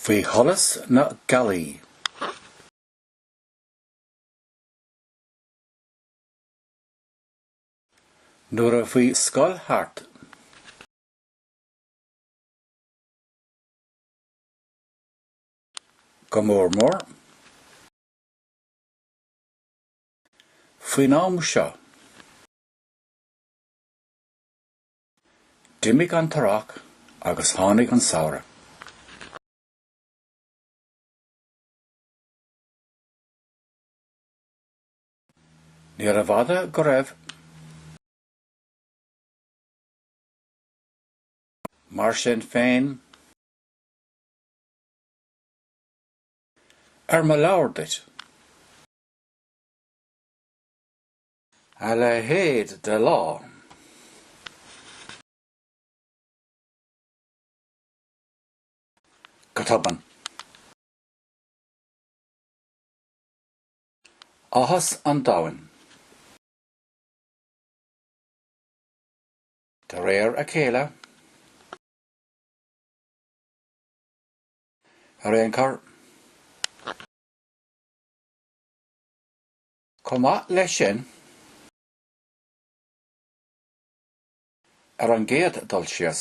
Faoi sholas na gealaí. Nuair a bhí scoil thart. Go mór mór. Faoin am seo, d'imigh an t-earrach agus tháinig an samhradh. Níorbh fhada go raibh. Mar sin féin, ar mo leabhar duit. A leithéid de lá! Go tobann. Áthas an domhain. De réir a chéile. Ar aon chor. Chomh maith leis sin, ar an gcéad dul síos,